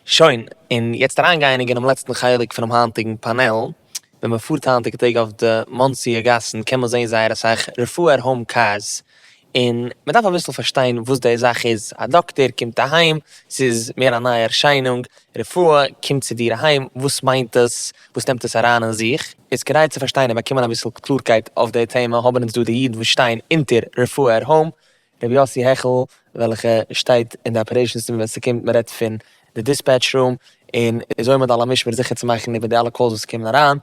שוין, און יעצט אריינגייעניג אינעם לעצטן חלק פונעם היינטיגן פאנעל. ווען מען פארט היינטיגע טעג אויף די מאנסי'ע גאסן קען מען זען זייער אסאך רפואה עט האום קארס, און מען דארף אביסל פארשטיין וואס די זאך איז, א דאקטער קומט אהיים, ס'איז מער א נייע ערשיינונג, רפואה קומט צו דיר אהיים, וואס מיינט עס, וואס נעמט עס אריין אין זיך, איז כדי צו פארשטיין און באקומען אביסל קלארקייט אויף די טעמע האבן אונז דא די אידן וואס שטייען אונטער רפואה עט האום. רבי יוסי העכעל וועלכע שטייט אין די אפערעישאנס טיעם ווען ס'קומט מ'רעדט פון די דיספעטש רום און איז עומד על המשמר זיכער צו מאכן איבער די אלע קאלס וואס קומען אריין,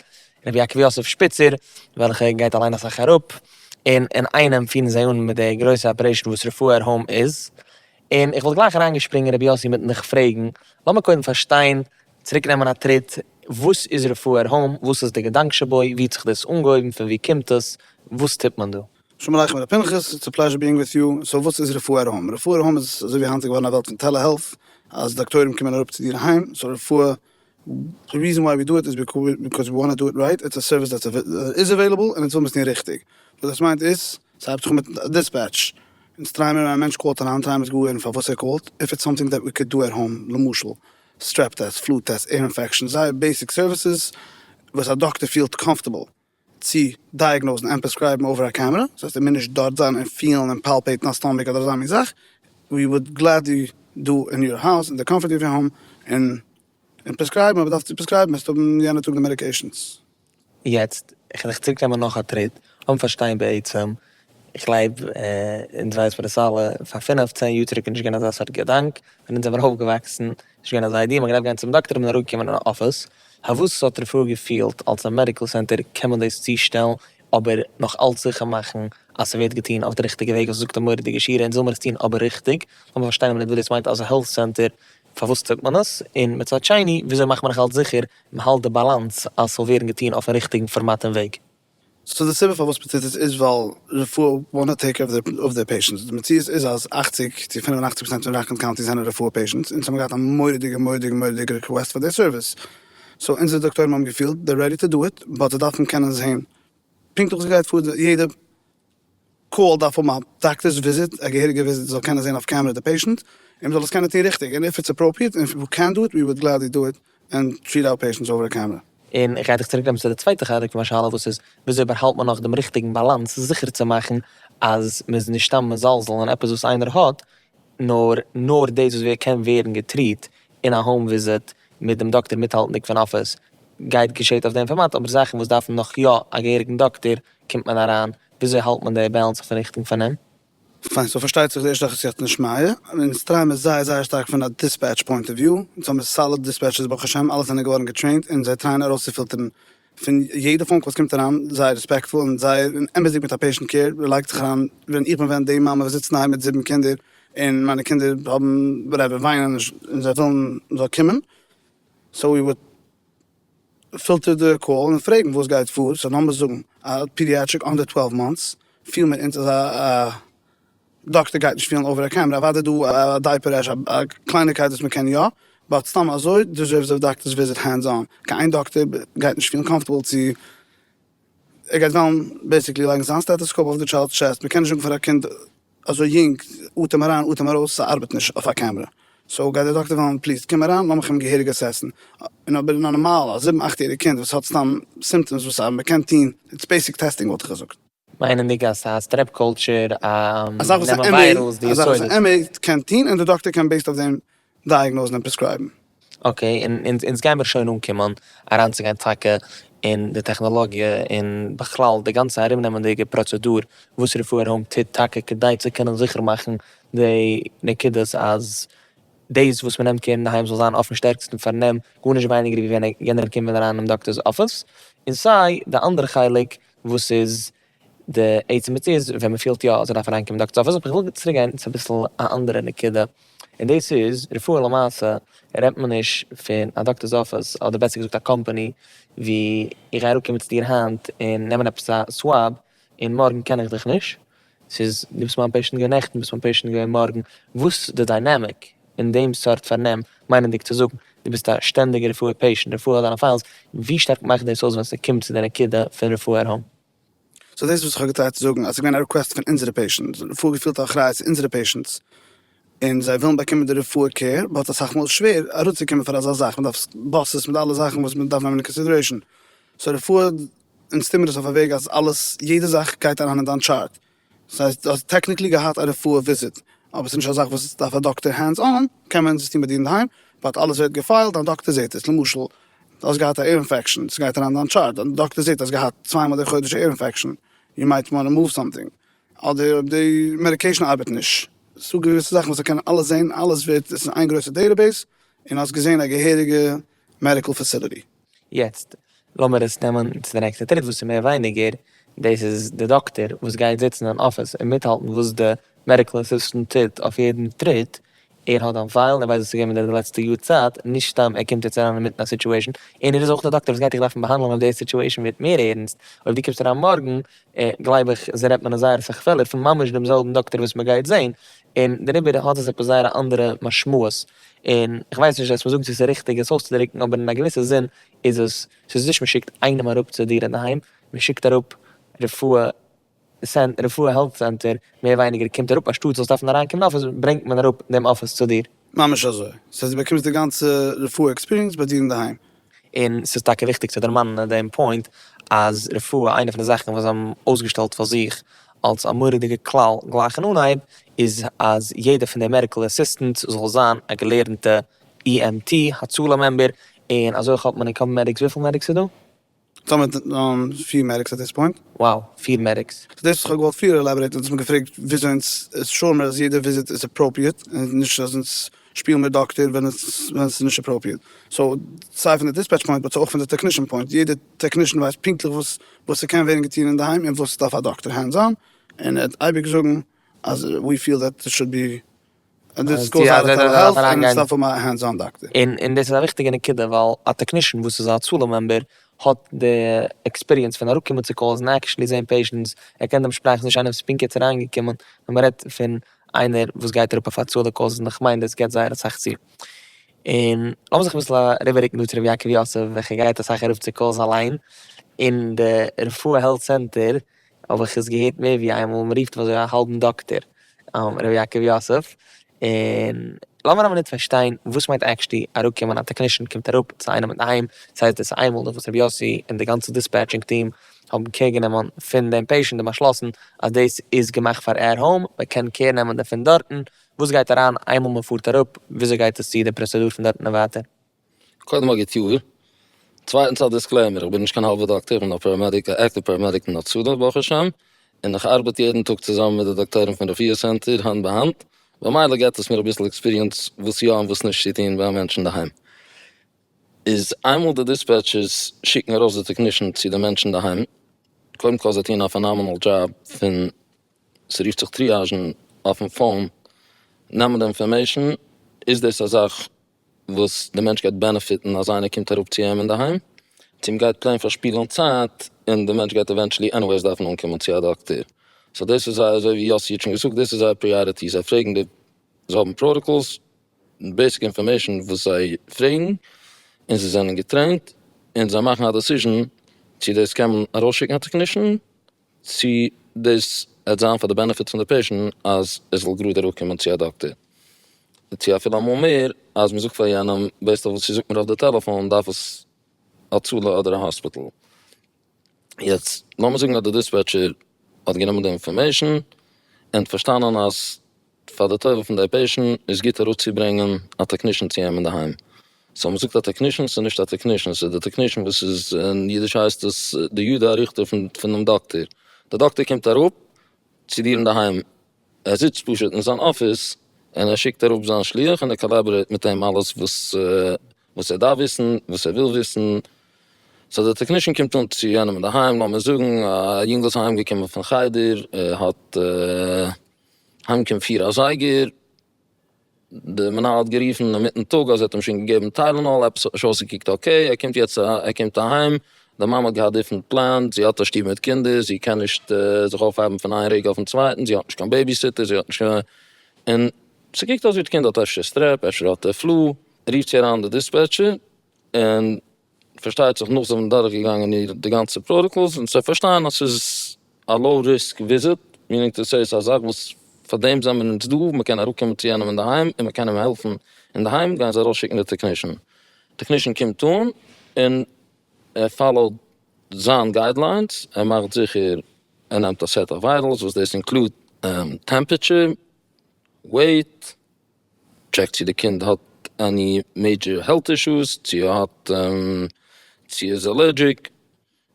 רבי יעקב יוסף שפיצער וועלכע גייט אליין אסאך אראפ און אינאיינעם פירן זיי אן מיט די גרויסע אפערעישאן וואס רפואה ער האום איז, און איך וואלט גלייך אריינגעשפרינגען רבי יוסי מיטן דיך פרעגן, לאמיר קודם פארשטיין, צוריק נעמען א טריט, וואס איז רפואה ער האום, וואס איז די געדאנק שבו, ווי האט זיך דאס אנגעהויבן, פון ווי קומט עס, וואס טוט מען דא? שלום עליכם ר' פנחס, איטס א פלעזשער ביאינג וויט יו, סאו וואס איז רפואה אט האום? רפואה אט האום איז אזוי ווי היינט איז געווארן א וועלט פון טעלע-העלט אז דאקטוירים קומען אראפ צו דיר אהיים, סאו רפואה, די ריזען וויי ווי דו איט איז ביקאוז ווי וואנט טו דו איט רייט, איטס א סערוויס דעטס איז עוועילעבל און אונז וויל מ'איז טון ריכטיג, וואס דאס מיינט איז, ס'הייבט זיך מיט א דיספעטש, אונז טרייען מיר ווען א מענטש קאלט אריין טרייען מיר זיך גאר הערן פארוואס ער קאלט, איף איטס סאמטינג דעט ווי קען דו עט האום, למשל סטרעפ טעסט, פלו טעסט, עיר אינפעקשאן, זייער בעיסיק סערוויסעס וואס א דאקטער פילט קאמפארטעבל, צו דייעגנאוזן און פרעסקרייבן אווער א קעמרע, דאס הייסט ער מוז נישט דארט זיין און פילן און פאלפעיטן א סטאמעק אדער אזא מין זאך, ווי וואלט גלעדלי דא אין יור האוז אין די קאמפארט אוו יור האום און און פרעסקרייבן אויב ער דארף צו פרעסקרייבן וועסטו האבן יענע טאג די מעדיקעישאנס. יעצט, כ'על איך צוריק נעמען נאך א טריט, לאמיר פארשטיין בעצם איך גלייב אונז ווייס מיר עס אלע, פאר פינעף צען יאר צוריק איז נישט געווען אזא סארט געדאנק, ווען אונז זעמיר אויפגעוואקסן איז נישט געווען אזא איידיע, מען האט געדארפט גיין צום דאקטער און אראפ קומען אין א אפיס, האבוס ס'האט רפואה געפעילט אלס א מעדיקל סענטער קען מען דאס צושטעלן, אבער נאך אלץ זיכער מאכן אז ס'ווערט געטון אויף די ריכטיגע וועג וואס זאגט די מורא'דיגע שירה אונז זאלמיר עס טון אבער ריכטיג, לאמיר פארשטיין אבער נישט וואס דאס מיינט אז א העלט סענטער פארוואס טוט מען עס, און מצד שני וויאזוי מאכט מען נאך אלץ זיכער מ'האלט די באלאנס אז ס'זאל ווערן געטון אויפן ריכטיגן פארמאט און וועג. סאו די סיבה פארוואס מען טוט עס איז ווייל רפואה וואנט טעיק קעיר אוו דעיר פעישענטס, די מציאות איז אז אַכציק צו פֿינף און אַכציק פראצענט פון ראקלענד קאונטי זענען רפואה פעישענטס אונז האבן געהאט א מורא'דיגע מורא'דיגע מורא'דיגע ריקוועסט פאר דעי סערוויס, סאו אונזערע דאקטוירים האבן געפילט דער רעדי טו דו איט, באט זיי דארפן קענען זעהן פונקטליך וואס גייט פאר יעדע. קאל דארף האבן א דאקטערס וויזיט, א געהעריגע וויזיט, זאל קענען זעהן אויף קעמערע די פעישענט, און מען זאל עס קענען טוהן ריכטיג, און איף איטס אפראפריעט, און איף ווי קען דא איט, ווי וואד גלעדלי דא איט, און טריעט אווער פעישענטס אווער א קעמערע. און איך גיי דיך צוריק נעמען צו די צווייטע חלק פון מיין שאלה וואס איז, וויאזוי באהאלט מען נאך דעם ריכטיגן באלאנס זיכער צו מאכן אז מען איז נישט סתם מזלזל אין עפעס וואס איינער האט, נאר נאר דאס וואס ווער קען ווערן געטריט אין א האום וויזיט מיט דעם דאקטער מיטהאלטנדיג פון אפיס גייט געשעט אויף דעם פארמאט אבער זאכן וואס דארפן נאך יא א געהעריגן דאקטער קומט מען אריין וויאזוי האלט מען די באלאנס אויפן ריכטיגן פארנעם? פיין סאו פארשטייט זיך די ערשטע זאך איז יאך נישט מייער און אונז טרייען מיר זייער זייער שטארק פון א דיספעטש פוינט אוו וויו אונז האמיר סאליד דיספעטשערס ברוך השם אלע זענען געווארן געטרעינט און זיי טרייען ארויסצופילטערן פון יעדע פאון קאל וואס קומט אריין זייער רעספעקטפול און זייער אמת'דיג מיט א פעישענט קעיר, מען לייגט זיך אריין, ווען איך בין ווען די מאמע וואס זיצט אינדערהיים מיט זיבן קינדער און מיינע קינדער האבן וואטעווער וויינען נישט און זיי ווילן מען זאל קומען, סאו ווי וואלט פילטערט די קאל און פרעגן וואס גייט פאר, סאו לאמיר זאגן א פידיעטריק אנדער טוועלוו מאנטס, פיל מיר אונז אזא דאקטער גייט נישט פיהלן אווער א קעמרע, אוודאי דא א דייפער רעש א קלייניקייט וואס מ'קען יא, באט סתם אזוי דיזערוס א דאקטערס וויזיט הענדס אן, קיין איין דאקטער גייט נישט פיהלן קאמפארטעבל צו, ער גייט וועלן בעיסיקלי לייגן זיין סטעטעסקאופ אויף די טשיילדס טשעסט, מ'קען נישט זאגן פאר א קינד אזוי יונג אטעם אריין אטעם ארויס ס'ארבעט נישט אויף א קעמרע, סאו גייט די דאקטער וועלן פליז קום אריין לאמיך אים געהעריג אסעסן, און אבער נארמאל א זיבן אכט יעריג קינד וואס האט סתם סימפטעמס וואס א מ'קען טוהן, איטס בעיסיק טעסטינג וואלט איך געזאגט. מיינענדיג אז סאיז א סטרעפ קולטשער אז נעמען וויירעלס די יסודות. א זאך וואס א עמי קען טוהן און די דאקטער קען בעיסד אויף דעם דייעגנאזן און פרעסקרייבן. אקעי און אונז גיימיר שוין אנקומען אריינצוגיין טאקע אין די טעכנאלאגיע און בכלל די גאנצע ארומנעמענדיגע פראצעדור וואס רפואה ער האום טוט טאקע כדי צו קענען זיכער מאכן די נקודות אז דאס וואס מ'נעמט קער אינדערהיים זאל זיין אויפן שטערקסטן פארנעם גארנישט ווייניגער ווי ווען יענער קומט אריין אין דאקטער'ס אפיס און סיי די אנדערע חלק וואס איז די עצם מציאות ווען מען פילט יא אזוי דארף מען אהיימקומען דאקטאר זאפעס, אבער איך וויל צוריק גיין צו אביסל א אנדערע נקודה, און דאס איז רפואה למעשה רעדט מען נישט פון א דאקטארס אפיס אדער בעסער געזאגט א קאמפאני ווי איך גיי אראפקומען צו דיר היינט און נעמען עפעס א סוואב און מארגן קען איך דיך נישט, ס'איז דו ביסט מיין פעישענט געווען נעכטן, ביסט מיין פעישענט געווען מארגן, וואס די דיינעמיק אין דעם סארט פארנעם, מיינענדיג צו זאגן דו ביסט א שטענדיגע רפואה פעישענט, רפואה האט דיינע פיילס, ווי שטארק מאכט דאס אויס ווען ס'קומט צו די נקודה פון רפואה ערהאן? סאו דאס איז וואס איך האב געטרייט צו זאגן, אז ס'איז געווען א ריקוועסט פון אונזערע פעישענטס, רפואה געפילט א אחריות צו אונזערע פעישענטס, און זיי ווילן באקומען די רפואה קעיר, באט אסאך מאל איז שווער אראפצוקומען פאר אזא זאך, מ'דארף באסעס מיט אלע זאכן וואס מ'דארף נעמען אין קאנסידערעישאן, סאו רפואה. אונז טוהן מיר דאס אויף א וועג אז אלעס יעדע זאך גייט אריין אין דיין טשארט, דאס הייסט דו האסט טעקניקלי געהאט א רפואה וויזיט אבער ס'איז נישט א זאך וואס דארף א דאקטער הענדס אן, קען מען דאס טוהן ביי דיר אינדערהיים, באט אלעס ווערט געפיילט, דיין דאקטער זעהט עס, למשל דו האסט געהאט א עיר אינפעקשאן, ס'גייט אריין אין דיין טשארט, דיין דאקטער זעהט אז געהאט צוויי מאל די חודש א עיר אינפעקשאן, יו מייט וואנט טו מאוו סאמטינג, אדער אויב די מעדיקעישאן ארבעט נישט, ס'דא געוויסע זאכן וואס זיי קענען אלעס זעהן, אלעס ווערט, עס איז איין גרויסע דעטעבעיס, און האסט געזעהן א געהעריגע מעדיקעל פעסיליטי. יעצט לאמיר עס נעמען צו די נעקסטע טריט וואס איז מער ווייניגער דאס איז די דאקטער וואס גייט זיצן אין אפיס און מיטהאלטן וואס די מעדיקל אסיסטענט טוט אויף יעדן טריט, ער האט דיין פיילן ער ווייסט וואס איז געווען מיט דיר די לעצטע יאר צייט, נישט סתם ער קומט יעצט אריין אינמיטן א סיטואשען, און ער איז אויך די דאקטער וואס גייט דיך דארפן באהאנדלען אויב די סיטואשען ווערט מער ערענסט, אויב דו קומסט אריין מארגן גלייב איך רעדט מען אז זייער אסאך פעלער פון ממש דעם זעלבן דאקטער וואס מען גייט זען, און דעריבער האט עס עפעס זייער א אנדערע משמעות, און איך ווייס נישט עס מ'זאגן צו ס'איז ריכטיג עס אויסצודריקן אבער אין א געוויסע זין איז עס, ס'איז נישט מ'שיקט איינעם אראפ צו דיר אינדערהיים, מ'שיקט אראפ רפואה רפואה העלט סענטער, מער ווייניגער קומט אראפ אנשטאט זאלסט דארפן אריינקומען אין אפיס ברענגט מען אראפ דעם אפיס צו דיר. ממש אזוי. ס'הייסט דו באקומסט די גאנצע רפואה עקספיריענס ביי דיר אינדערהיים. און ס'איז טאקע וויכטיג צו דערמאנען דעם פוינט אז רפואה איינע פון די זאכן וואס זיי האבן אויסגעשטעלט פאר זיך אלס א מורא'דיגע כלל גלייך אין אנהייב איז אז יעדע פון די מעדיקעל אסיסטענטס זאל זיין א געלערנטע EMT הצלה מעמבער און אזוי האט מען אין קאמען מעדיקס וויפיל מעדיקס איז דא? טאמער ט דאן פֿיר מעדיקס עט דיס פוינט. וואו? פֿיר מעדיקס? סאו דאס וואס כ'האב געוואלט פריער עלאבערעיטן, דאס האסט מיר געפרעגט וויאזוי אונז שוער מיר אז יעדע וויזיט איז אפראפריעט, און נישט אז אונז שפילן מיר דאקטער ווען עס ווען עס איז נישט אפראפריעט. סאו סיי פון די דיספעטש פוינט באט סאו אויך פון די טעקנישן פוינט, יעדע טעקנישן ווייסט פונקטליך וואס וואס ס'קען ווערן געטון אינדערהיים און וואס דארף א דאקטער הענדס אן, און ער וועט אייביג זאגן אז ווי פיעל דעט עס שוד בי. און די סקולס ארבעט טעלע העלט און אונז דארף האבן א הענדס אן דאקטער. און דאס איז א וויכטיגע נקודה ווייל א טעקנישן וואס איז א הצלה מעמבער האט די עקספיריענס פון אראפקומען צו קאלס און עקשעלי זעהן פעישענטס, ער קען דעם שפראך נישט איינער וואס איז פונקט יעצט אריינגעקומען ווען מען רעדט פון איינער וואס גייט אראפ אויף הצלה קאלס און איך מיין דאס גיבט זייער אסאך צו. און לאמיר זיך אביסל אריבעררוקן דא צו ר' יעקב יוסף וועלכער גייט אסאך אראפ צו קאלס אליין, און די רפואה העלט סענטער האב איך עס געהערט מער ווי איין מאל, מ'רופט אזוי א האלבן דאקטער ר' יעקב יוסף, און לאמיר א מינוט פארשטיין וואס מיינט עקשטי אראפקומען א טעקנישן קומט אראפ צו איינעם אינדערהיים, ס'הייסט דאס איינמאל נאך וואס ר' יוסי און די גאנצע דיספעטשינג טיעם האבן קעיר גענומען פון דעם פעישענט און באשלאסן אז דאס איז געמאכט פאר ער האום, מ'קען קעיר נעמען דערפון דארטן, וואס גייט אריין איינמאל מ'פארט אראפ וויאזוי גייט עס צו די פראצעדור פון דארטן און ווייטער? קודם א גוט יאר, צווייטענס א דיסקלעימער, איך בין נישט קיין האלבע דאקטער, איך בין א פאראמעדיק, א עקטיוו פאראמעדיק אין הצלה ברוך השם, און איך ארבעט יעדן טאג צוזאמען מיט די דאקטוירים פון רפואה סענטער האנט ביי האנט, במילא געבט עס מיר אביסל עקספיריענס וואס יא און וואס נישט צו טון ביי א מענטש אינדערהיים. איז איינמאל די דיספעטשערס שיקן ארויס די טעקנישן צו די מענטש אינדערהיים, קודם כל זיי טוען א פענאמענעל דזשאב פון, ס'רופט זיך טריאזשן אויפן פאון, נעמען די אינפארמעישן, איז דאס א זאך וואס די מענטש גייט בענעפיטן אז איינער קומט אראפ צו אים אינדערהיים, צו מ'גייט פלעין פארשפילען צייט און די מענטש גייט עווענטשעלי עניוועיס דארפן אנקומען צו א דאקטער, סאו דאס איז זייער אזוי ווי יאסי האט שוין געזאגט דאס איז זייער פריאריטי זיי פרעגן די זיי האבן פראטאקאלס בעיסיק אינפארמעישאן וואס זיי פרעגן און זיי זענען געטרעינט און זיי מאכן א דעסיזשען צו דאס קען מען ארויסשיקן א טעקנישן צו דאס העט זיין פאר די בענעפיט פון די פעישענט אז ער זאל גראד אראפ קומען צו א דאקטער, צו אפילו אמאל מער אז מ'זאגט פאר יענעם בעיסד אויף וואס איר זאגט מיר אויף די טעלעפאן דארף עס הצלה אדער א האספיטעל, יעצט לאמיר זאגן אז די דיספעטשער האט גענומען די אינפארמעישאן און האט פארשטאנען אז פאר די טובה פון די פעישענט איז גוט אראפצוברענגען א טעקנישען צו אים אינדערהיים, סאו מ'זאגט א טעקנישען ס'איז נישט א טעקנישען ס'איז די טעקנישען וואס איז אין אידיש הייסט עס די יד הארוכה פונעם דאקטער, די דאקטער קומט אראפ צו דיר אינדערהיים, ער זיצט פשוט אין זיין אפיס און ער שיקט אראפ זיין שליח און ער קאלאבערעיט מיט אים אלעס וואס וואס ער דארף וויסן וואס ער וויל וויסן, סאו די טעקנישען קומט אן צו יענעם אינדערהיים, לאמיר זאגן א יונגל איז אהיימגעקומען פון חדר ער האט. היינט קומט פיר אזייגער, די מנהל האט גערופן אינמיטן טאג אז ער האט אים שוין געגעבן טיילענאל, עפעס האט נישט אויסגעקוקט אקעי, ער קומט יעצט ער קומט אהיים, די מאמע האט געהאט דיפרענט פלען, זי האט א שטוב מיט קינדער, זי קען נישט זיך אויפהייבן פון איין רגע אויפן צווייטן, זי האט נישט קיין בעבי סיטער, זי האט נישט קיין, און ס'קוקט אויס ווי די קינד האט אפשר סטרעפ, אפשר האט ער פלו, רופט זי אריין די דיספעטשער, און פארשטייט זיך נאך זיי זענען דורך געגאנגען איר די גאנצע פראטאקאלס און זיי פארשטייען אז ס'איז א לאו ריסק וויזיט, מיענינג טו סעי ס'איז א זאך וואס פאר דעם זענען מיר אונז דא, מען קען אראפ קומען צו יענעם אינדערהיים און מען קען אים העלפן אינדערהיים, גייען זיי ארויס שיקן די טעקנישן, טעקנישן קומט אן און ער פאלאוט זיין גיידליינס, ער מאכט זיכער ער נעמט א סעט אוו ווייטעלס וואס דאס אינקלוד טעמפעטשער, וועיט. טשעק צו די קינד האט עני מעידזשער העלט אישוס, צו ער האט צו ער איז אלערדזשיק,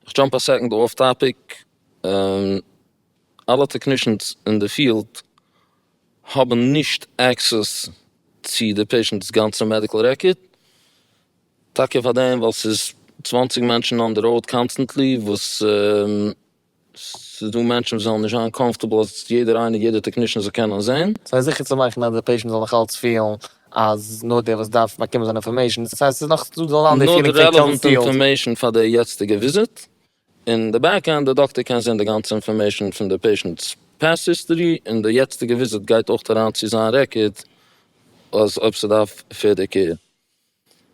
איך דזשאמפ א סעקאנד אףף טאפיק, אלע טעקנישענס אין די פיעלד האבן נישט עקסעס צו די פעישענטס גאנצע מעדיקל רעקארד, טאקע פארדעם ווייל ס'איז צוואנציג מענטשן אן די ראוד קאנסטענטלי וואס ס'איז דא מענטשן וואס וועלן נישט זיין קאמפארטעבל אז יעדער איינער יעדער טעקנישן זאל קענען זעהן. ס'איז זיכער צו מאכן אז די פעישענט זאל נאכאלץ פילן אז נאר דער וואס דארף באקומען זיין אינפארמעישן, ס'הייסט ס'איז נאך דא זאל זיין די פילינג פון קען פיל. נאר די רעלעוואנט אינפארמעישן פאר די יעצטיגע וויזיט, און די בעק ענד די דאקטער קען זעהן די גאנצע אינפארמעישן פון די פעישענט'ס פעסט היסטארי, און די יעצטיגע וויזיט גייט אויך אריין צו זיין רעקארד אז אויב ס'דארף פערדער קעיר.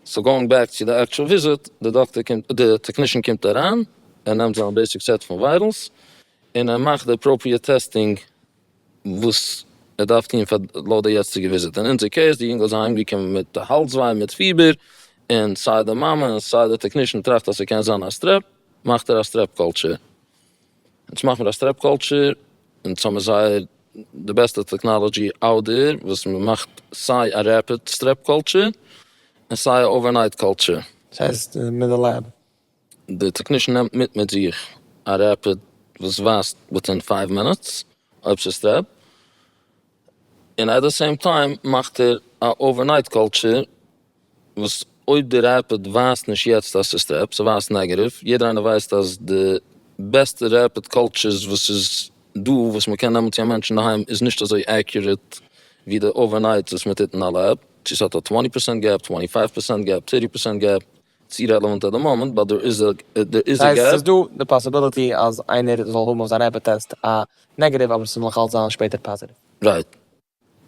סאו גאוינג בעק צו די עקטשועל וויזיט, די דאקטער קומט, די טעקנישען קומט אריין, ער נעמט זיין בעיסיק סעט פון וויירעלס, און ער מאכט די אפראפריעט טעסטינג וואס ער דארף טון פאר לויט די יעצטיגע וויזיט, אין אונזער קעיס די יונגל איז אהיים געקומען מיט האלז וויי מיט פיבער, און סיי די מאמע און סיי די טעקנישען טראכט אז ס'קען זיין א סטרעפ, מאכט ער א סטרעפ קאלטשער. יעצט מאכט מען א סטרעפ קולטשער און יעצט האבן מיר זייער די בעסטע טעקנאלעדזשי אאוט דער וואס מען מאכט סיי א רעפיד סטרעפ קולטשער און סיי א אווער נייט קולטשער. דאס הייסט מיט די לעב? די טעקנישן נעמט מיט מיט זיך א רעפיד וואס ווייזט וויטין פייוו מינוטס אויב ס'איז סטרעפ און עט די סעים טיים מאכט ער א אווער נייט קולטשער. וואס אויב די רעפד ווייזט נישט יעצט אז ס'סטעפ, ס'ווייזט נעגעטיוו, יעדער איינער ווייסט אז די בעסטע רעפד קאלטשערס וואס איז דא וואס מ'קען נעמען צו א מענטש אינדערהיים איז נישט אזוי עקיוראט ווי די אווערנייטס וואס מ'טוט אין א לעב, צו ס'האט א טווענטי פערסענט געפ, טווענטי פייוו פערסענט געפ, טערטי פערסענט געפ, צו רעלעווענט עט די מאמענט באט דער איז דער איז א געפ. ס'איז דא די פאסיביליטי אז איינער זאל האבן אויף זיין רעפד טעסט א נעגעטיוו אבער ס'זאל נאכאלץ זיין שפעטער פאזיטיוו. רייט.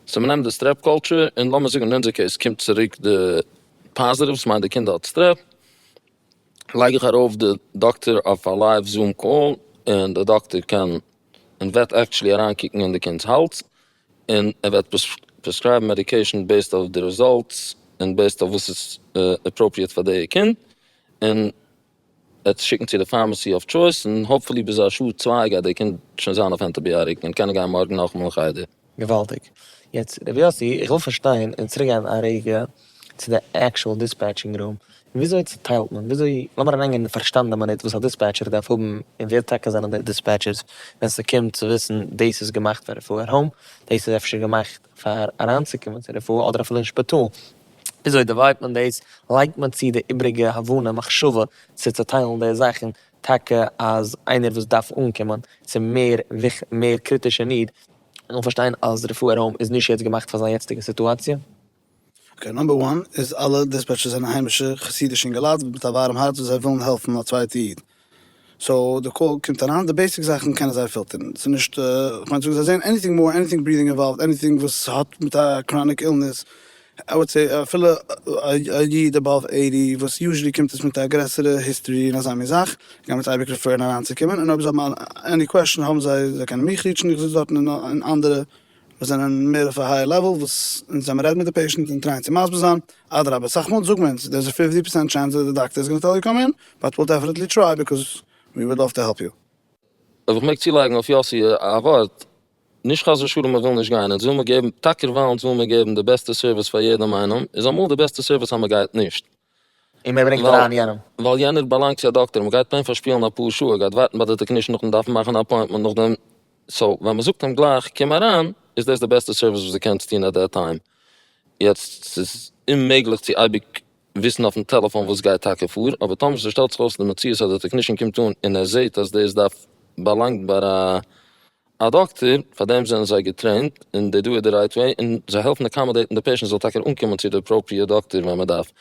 סאו מען נעמט די סטרעפ קולטשער און לאמיר זאגן אין אונזער קעיס קומט צוריק די פאזיטיוו ס'מיינט די קינדער האט סטרעפ לייג איך ארויף די דאקטער אויף א לייוו זום קאל און די דאקטער קען און וועט עקטשעלי אריין קוקן אין די קינד'ס האלז און ער וועט פרעסקרייבן מעדיקעישן בעיסד אויף די רעזאלטס און בעיסד אויף וואס איז אפראפריעט פאר די קינד און. עטס שיקן צו די פארמעסי אויף טשויס און האופפולי ביז א שעה צוויי גייט די קינד שוין זיין אויף ענטיביאטיק און קענען גיין מארגן נאכטמאל אין חדר. געוואלדיג. יעצט ר' יאסי איך וויל פארשטיין און צוריק גיין א רגע צו די עקשועל דיספעטשינג רום, וויאזוי צוטיילט מען וויאזוי לאמיר אריין גיין אין פארשטאנדע מינוט וואס א דיספעטשער דארף האבן און ווער טאקע זענען די דיספעטשערס ווען ס'קומט צו וויסן דאס איז געמאכט פאר רפואה און האום דאס איז אפשר געמאכט פאר אריינצוקומען צו רפואה אדער אפילו אין שפיטאל, וויאזוי דיוויידט מען דאס? לייגט מען צו די איבריגע הבנה מחשבה צו צוטיילן די זאכן טאקע אז איינער וואס דארף אנקומען צו מער מער קריטישע ניד זאל פארשטיין אז רפואה ארום איז נישט יעצט געמאכט פאר זיין יעצטיגע סיטואציע? אקעי, נאמבער וואן איז אלע דיספעטשערס זענען היימישע חסידישע אינגעלייט מיט א ווארעם הארץ וואס זיי ווילן העלפן א צווייטע איד, סאו די קאל קומט אריין די בעיסיק זאכן קענען זיי פילטערן, ס'איז נישט כ'מיין צו זאגן זיי זעען עניטינג מאר עניטינג ברידינג אינוואלווד עניטינג וואס האט מיט א קראניק אילנעס, איי וואלט סעי אפילו א איד עבאוו עיטי וואס יוזשעלי קומט עס מיט א גרעסערע היסטערי און אזא מין זאך גייען מיר אייביג רעפערן אריינצוקומען און אויב זיי האבן עני קוועשן האבן זיי זיי קענען מיך ריעטשן איך זיץ דארטן און אנדערע. מיר זענען מער אויף א הייער לעוועל וואס אונז ווען מען רעדט מיט די פעישענט און טרייען צו מסביר זיין, אדרבה סאך מאל זאגט מען אונז דער איז א פיפטי פערסענט טשענס דעט די דאקטער איז גאנע טעל יו קאם אין באט וויל דעפענעטלי טריי ביקאוז ווי וואד לאוו טו העלפ יו. אויב איך מעג צולייגן אויף יאסי א ווארט, נישט חס ושלום מען וויל נישט גיין אונז וויל מען געבן, טאקער ווייל אונז וויל מען געבן די בעסטע סערוויס פאר יעדעם איינעם, איז אמאל די בעסטע סערוויס אז מען גייט נישט. און מען ברענגט אריין יענעם. ווייל יענער באלאנגט צו א דאקטער, מען גייט פיין פארשפילן אפאר שעה, ער גייט ווארטן ביי די טעקנישן נאכן דארפן מאכן א אפוינטמענט נאכדעם, סאו ווען מען זאגט אים גלייך קום אריין איז דאס די בעסטע סערוויס וואס דו קענסט טון עט דעט טיים, יעצט ס'איז אוממעגליך צו אייביג וויסן אויפן טעלעפאן וואס גייט טאקע פאר, אבער טאמער ס'שטעלט זיך אויס די מציאות אז די טעקנישן קומט אן און ער זעט אז דאס דארף באלאנגט ביי א. א דאקטער, פאר דעם זענען זיי געטרעינט, און דער דא איז די רייט וועי, און זיי העלפן אקאמאדעיטן די פעישענט זאל טאקע אנקומען צו די אפראפריעט דאקטער ווען מען דארף.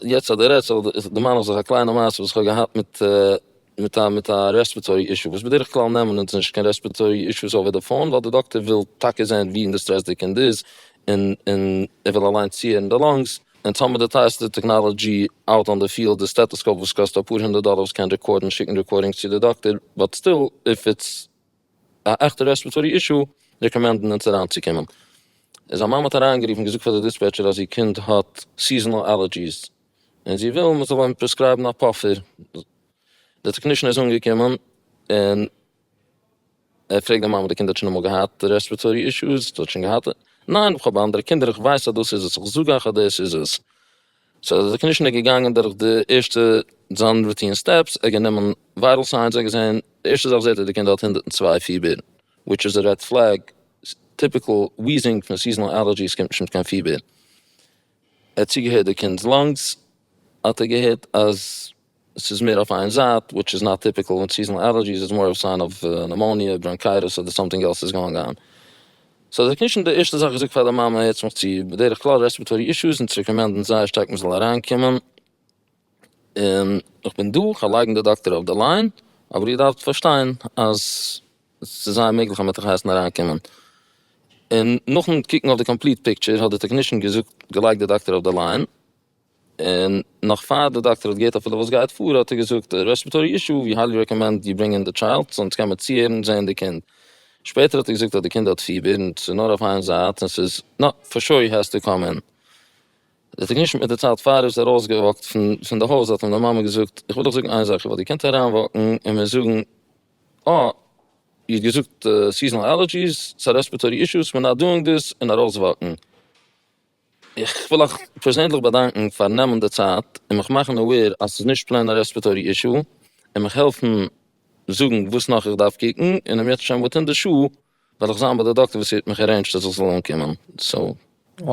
יעצט אז דו רעדסט דערמאן איך זיך א קליינע מעשה וואס איך האב געהאט מיט מיט א מיט א רעספעטארי אישו, וואס בדרך כלל נעמען אונז נישט קיין רעספעטארי אישוס אווער די פאון, ווייל די דאקטער וויל טאקע זען ווי אין די סטרעס די קינד איז, און און ער וויל אליינס צוהערן די לאנגס, און טאמער די טייערסטע טעקנאלאדזשי אוט אן די פיעלד איז סטעטעסקאופ וואס קאסט אפאר הונדערט דאלער וואס קען רעקארדן און שיקן רעקארדינגס צו די דאקטער, באט סטיל איף איטס א עכטע רעספעטארי אישו רעקאמענדן אונז אריינצוקומען. איז א מאמע האט אריינגערופן און געזאגט פאר די דיספעטשער אז איר קינד האט סיזאנאל אלערדזשיס און זי וויל מען זאל אים פרעסקרייבן א פאפער, די טעקנישן איז אנגעקומען און. ער פרעגט די מאמע, די קינד האט שוין אמאל געהאט רעספירעטארי אישוס? האט שוין געהאט? ניין איך האב אנדערע קינדער איך ווייס אז דאס איז עס, איך זאג אייך אז דאס איז עס. סאו אז די קנישענע איז געגאנגען דורך די ערשטע זיין רוטין סטעפס, ער האט גענומען ווייטעל סיינס ער האט געזען, די ערשטע זאך זעט ער די קינד האט הונדערט און צוויי פיבער, וויטש איז א רעד פלעג, טיפיקעל וויזינג פון סיזענעל עלערדזשיס קומט נישט מיט קיין פיבער. ער האט צוגעהערט די קינד'ס לאנגס האט ער געהערט אז. ס'איז מער אויף איין זייט וויטש איז נאט טיפיקעל וויט סיזענעל עלערדזשיס איז מאר אוו סיין אוו נעמאוניע בראנקייטעס אדער סאמטינג עלס איז גאונג אן סאו זיי קנישן די ערשטע זאך געזאגט פאר די מאמע הערטס מיך צו בדרך כלל רעספירעטארי אישוס אונז רעקאמענדן זייער שטארק מ'זאל אריין קומען און איך בין דא כ'וועל לייגן די דאקטער אויף די ליין אבער איר דארפט פארשטיין אז ס'איז זייער מעגליך אז מ'וועט אייך הייסן אריין קומען און נאכן קוקן אויף די קאמפליט פיקטשער האט די טעקנישן געזאגט געלייגט די דאקטער אויף די ליין. און נאך פאר די דאקטער האט געהערט אפילו וואס גייט פאר האט ער געזאגט רעספירעטארי אישו ווי היילי רעקאמענד יו ברענגען די טשיילד זאנס קען מען צוהערן און זעהן די קינד, שפעטער האט ער געזאגט אז די קינד האט פיבער און ס'איז נאר אויף איין זייט און ס'איז נא פאר שוי העז טו קאם אין. די טעקנישן מיט די צייט פאר ער איז ארויס געוואקט פון די הויז האט אים די מאמע געזאגט איך וויל דיך זאגן איין זאך איך וועל דיר קענט אריין וואקן און מיר זאגן אה איר האט געזאגט סיזאנעל עלערדזשיס סא רעספירעטארי אישוס מיר נאט דואינג דיס און ארויס וואקן. איך וויל אייך פערזענליך באדאנקן פארן נעמען די צייט און מיך מאכן אווער אז ס'איז נישט פלעין א רעספעטארי אישו, און מיך העלפן זאגן וואס נאך איך דארף קוקן, און אום יעצט שוין וויטין די שעה וועל איך זיין ביי די דאקטער וואס ער האט מיך ארעינדזשד אז איך זאל אנקומען, סאו. Wow,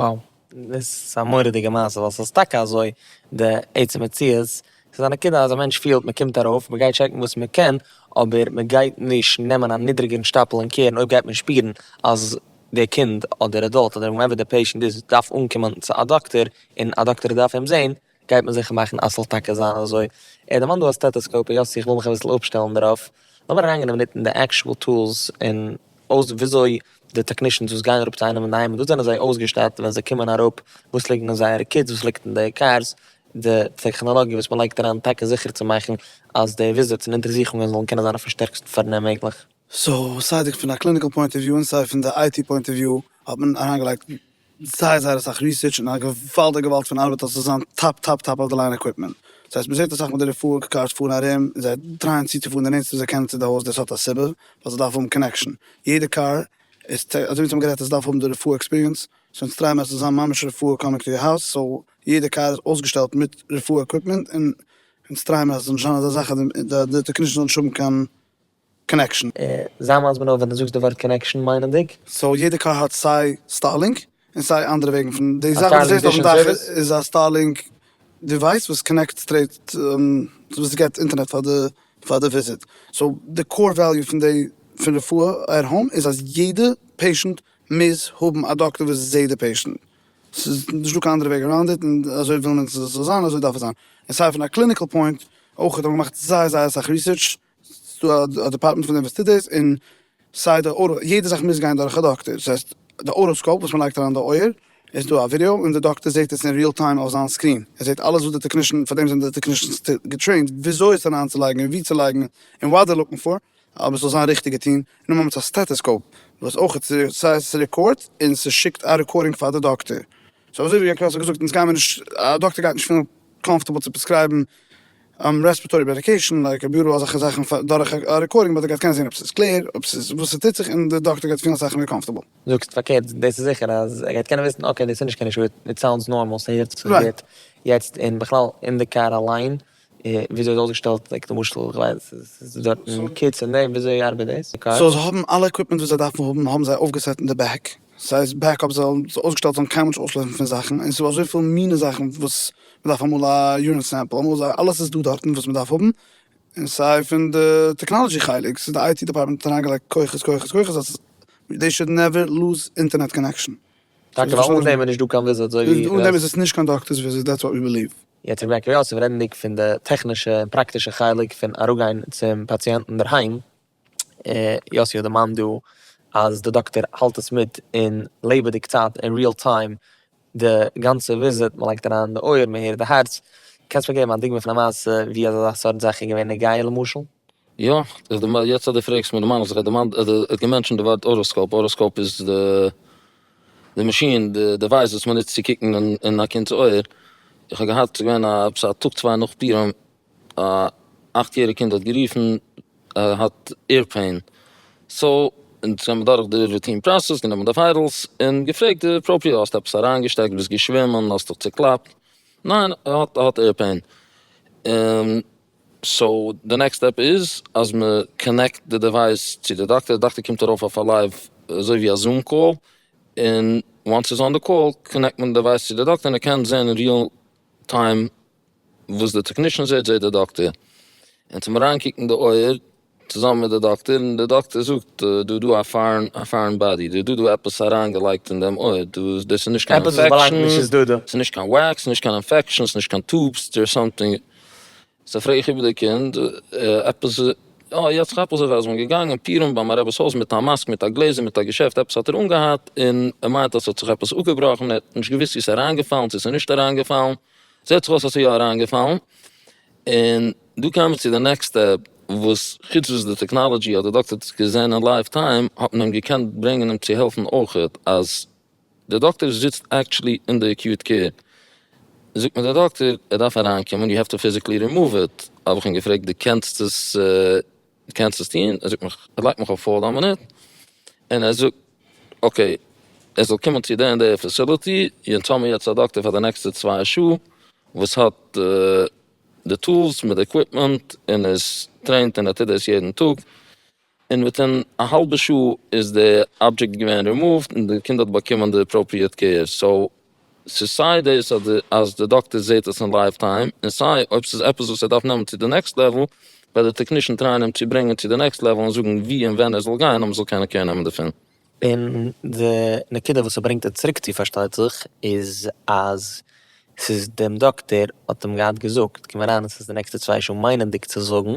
דאס איז א מורא'דיגע מעשה, ווייל ס'איז טאקע אזוי די עצם מציאות, ס'איז א נקודה אז א מענטש פילט מ'קומט ארויף, מ'גייט טשעקן וואס מ'קען, אבער מ'גייט נישט נעמען א נידריגערן שטאפל אין קערן אויב גייט מען שפירן אז. דער קינד אדער עדאלט אדער וואטעווער דער פעישענט איז דארף אנקומען צו א דאקטער און א דאקטער דארף אים זעהן גייט מען זיכער מאכן אז ס'זאל טאקע זיין אזוי. ער דערמאנט דא א סטעטעסקאופ היות איך וויל מיך אביסל אפשטעלן דערויף האב איך אריינגענומען דארט אין די עקשועל טולס און אויס וויאזוי די טעקנישענס וואס גייען אראפ צו איינעם אין די היים וואס זענען זיי אויסגעשטאט ווען זיי קומען אראפ וואס ליגן אין זייערע קיטס וואס ליגט אין די קארס די טעכנאלאגיע וואס מען לייגט אריין טאקע זיכער צו מאכן אז די וויזיטס און אונטערזוכונגען זאלן קענען זיין אויפן שטערקסטן פארנעם מעגליך. סאו סיי די פון א קליניקעל פוינט אוו וויו און סיי פון די איי טי פוינט אוו וויו האט מען אריינגעלייגט זייער זייער אסאך ריסערטש און א געוואלדיג געוואלד פון ארבעט אז ס'זאל זיין טאפ טאפ טאפ אוו די ליין עקוויפמענט, דאס הייסט מ'זעט אסאך מיט די רפואה קארס פארן ארום און זיי טרייען צוצופארן די נענטסטע וואס זיי קענען צו די הויז, דאס האט א סיבה ווייל זיי דארפן האבן קאנעקשאן, יעדע קאר איז טע אזוי ווי אונז האבן גערעדט עס דארף האבן די רפואה עקספיריענס, סאו אונז טרייען מיר אז ס'זאל זיין ממש רפואה קאמינג טו יור האוז, סאו יעדע קאר איז אויסגעשטעלט מיט רפואה עקוויפמענט און אונז טרייען מיר אז ס'זאל נישט זיין אזא זאך אז די די טעקנישאנס זאלן נישט האבן קיין קאנעקשאן. זיי מיינס מנובל ווען דו זאגסט די ווארט קאנעקשאן מיינענדיג. סאו יעדע קאר האט סיי סטארלינק און סיי אנדערע וועגן פון די זאך וואס דו זעסט אויפן דאך איז א סטארלינק דיווייס וואס קאנעקט סטרעיט וואס געט אינטערנעט פאר די פאר די וויזיט סאו די קאר וועליו פון די פון רפואה עט האום איז אז יעדע פעישענט מוז האבן א דאקטער וואס זעהט די פעישענט ס'איז נישטא קיין אנדערע וועג אראונד איט און אזוי וויל מען ס'זאל זיין און אזוי דארף עס זיין און סיי פון א קליניקעל פוינט אויך האט מען געמאכט זייער זייער אסאך ריסערטש ס'איז דא א דעפארטמענט פון אינוועסטיטערס און סיי די אוירא, יעדע זאך מוז גיין דורך א דאקטער, ס'הייסט די אויראסקאופ וואס מען לייגט אריין אין די אויער איז דא א ווידיאו און די דאקטער זעט עס אין ריעל טיים אויף זיין סקרין, ער זעט אלעס וואס די טעקנישן, פאר דעם זענען די טעקנישענס געטרעינט וויאזוי עס אריינצולייגן און ווי צו לייגן און וואט דער לוקינג פאר אז מען זאל זיין ריכטיגע טון, און נאכמער מיט א סטעטעסקאופ וואס אויך סיי ס'רעקארד און ס'שיקט א רעקארדינג פאר די דאקטער, סאו אזוי ווי עקאנאמיסט האט געזאגט אונז גיימיר נישט, א דאקטער גייט נישט פילן קאמפארטעבל צו פרעסקרייבן. רעספערטארי מעדיקעישן לייק א ביורא אזעלכע זאכן דורך א רעקארדינג באט ער גייט קענען זעהן אויב ס'איז קלער אויב ס'איז וואס ס'טוט זיך און די דאקטער גייט פילן אסאך מער קאמפארטעבל. זאגסט פארקערט, דאס איז זיכער אז ער גייט קענען וויסן אקעי דאס איז נישט קיין אישו איט סאונדס נארמאל ס'הערט זיך גוט יעצט און בכלל אין די קאר אליין וויאזוי איז אויסגעשטעלט לייק למשל כ'ווייס ס'איז דארטן קיטס און דעם וויאזוי ארבעט דאס די קאר. סאו זיי האבן אלע עקוויפמענט וואס זיי דארפן האבן האבן זיי אויפגעסעט אין די בעק. סאיז בעקאפ זאל אויסגעשטעלט זיין קיינמאל נישט אויסלויפן פון זאכן און סדא אזויפיל מינע זאכן וואס מדארף אמאל א יורין סעמפל אמאל איז אלעס איז דא דארטן וואס מדארף האבן און סיי פון די טעקנאלעדזשי חלק סאיז די איי טי דעפארטמענט האט אריינגעלייגט כוחות כוחות כוחות אז דעי שוד נעווער לוז אינטערנעט קאנעקשאן. טאקע ווייל אן דעם איז נישט דא קיין וויזיט אזוי ווי. אן דעם איז עס נישט קיין דאקטערס וויזיט דעטס וואט ווי ביליוו. יעצט איך בעקאפ יאסעלע רעדנדיג פון די טעכנישע און פראקטישע חלק פון אראפגיין צום פאציענטן אינדערהיים. יאסי האט דערמאנט דא אז די דאקטער האלט עס מיט אין לעבעדיג צייט אין ריעל טיים די גאנצע וויזיט, מען לייגט אריין די אויער, מען הערט די הארץ, קענסט מיר געבן א דוגמא פון א מעשה ווי אזא סארט זאך איז געווען נוגע למשל? יא, יעצט אז דו פרעגסט מיך דערמאן איך זיך ער דערמאנט ער האט געמענטשענט די ווארט אוראסקאופ, אוראסקאופ איז די מאשין די דעווייס וואס מען נוצט צו קוקן אין א קינד'ס אויער, איך האב געהאט ס'איז געווען עפעס א טאג צוויי נאך פורים א אכט יעריג קינד האט גערופן ער האט עיר פעין, סאו און זיי האבן דורך די רוטין פראסעס גענומען די וויידעלס און געפרעגט די פראפער האסט עפעס אריינגעשטעקט ביסט געשווימען האסט דיך צוקלאפט, ניין ער האט ער האט עיר פעין, און סאו די נעקסט סטעפ איז אז מען קאנעקט די דעווייס צו די דאקטער, די דאקטער קומט ארויף אויף א לייוו אזוי ווי א זום קאל, און וואנס ס'איז אן די קאל קאנעקט מען די דעווייס צו די דאקטער און ער קען זען אין ריעל טיים וואס די טעקנישן זעהט זעהט די דאקטער, און צום אריינקוקן די אויער צוזאמען מיט די דאקטער, און די דאקטער זאגט דא דא א פארען א פארען באדי, דא דא דא עפעס אריינגעלייגט אין דעם אויער, דא איז דאס איז נישט קיין אינפעקשאן, ס'איז נישט קיין וועקס, ס'איז נישט קיין אינפעקשאן, ס'נישט קיין טובס, דער איז סאמטינג, סא פרעג איך איבער די קינד, עפעס אה יעצט כאפ איך זיך אז מ'איז געגאנגען פורים ביי מיין רב'ס הויז מיט א מאסק מיט א גלעזער מיט א געשעפט עפעס האט ער אנגעהאט, און ער מיינט אז ס'האט זיך עפעס אפגעבראכן, ער האט נישט געוויסט צו ס'איז אריינגעפאלן צו ס'איז נישט אריינגעפאלן. זעט זיך אויס האסטו יא אריינגעפאלן, און דא קען מען צו די נעקסט סטעפ, וואס חוץ וואס די טעקנאלעדזשי האט די דאקטער האט עס געזען אין לייוו טיים, האט מען אים געקענט ברענגען אים צו העלפן אויכעט, אז די דאקטער זיצט עקטשעלי אין די עקיוט קעיר, זאגט מיר די דאקטער ער דארף אריינקומען, יו העוו טו פיזיקלי רימאוו איט, האב איך אים געפרעגט די קענסט עס די קענסט עס טון, ער זאגט מיך, ער לייגט מיך אויף האלד א מינוט, און ער זאגט אקעי, ער זאל קומען צו די און די פעסילעטי, און טעל מיר יעצט א דאקטער פאר די נעקסטע צוויי שעה, וואס האט די טולס מיט די עקוויפמענט, און איז טרעינט און ער טוט דאס יעדן טאג, און וויטין א האלבע שעה איז די אבדזשעקט געווען רימאווט, און די קינד האט באקומען די אפראפריעט קעיר, סאו ס'איז סיי דאס אז די דאקטער זעהט עס אין לייוו טיים, און סיי אויב ס'איז עפעס וואס ער דארף נעמען צו די נעקסט לעוועל, וועט די טעקנישן טרייען אים צו ברענגען צו די נעקסט לעוועל און זאגן ווי און ווען ער זאל גיין אז מ'זאל קענען קעיר נעמען דערפון. און די נקודה וואס ס'ברענגט אים צוריק צו פארשטייט זיך איז אז ס'איז דעם דאקטער האט אים געהאט געזאגט, קום אריין און ס'איז די נעקסטע צוויי שעה, מיינענדיג צו זאגן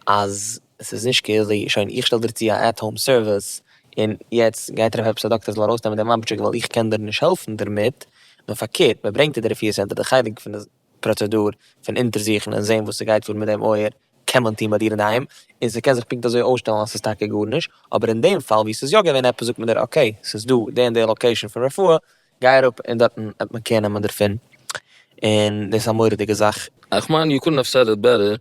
אז ס'איז נישט קעיר זי, שוין איך שטעל דיר צו א עט האום סערוויס, און יעצט גייט ער אויף עפעס א דאקטער זאל ארויסנעמען די מאמטשיק ווייל איך קען דיר נישט העלפן דערמיט, נאר פארקערט מען ברענגט אין די רפואה סענטער די חלק פון די פראצעדור פון אונטערזוכן און זעהן וואס ס'גייט פאר מיט דעם אויער קען מען טון ביי דיר אינדערהיים, און ס'קען זיך פונקט אזוי אויסשטעלן אז ס'איז טאקע גארנישט, אבער אין דעם פאל ווי ס'איז יא געווען עפעס זאגט מען דיר אקעי ס'איז דא די און די לאקעישאן פון רפואה גיי אראפ און דארטן וועט מען קער נעמען דערפון, און דאס איז א מורא'דיגע זאך. איך מיין יו קודנט האוו סעד איט בעטער,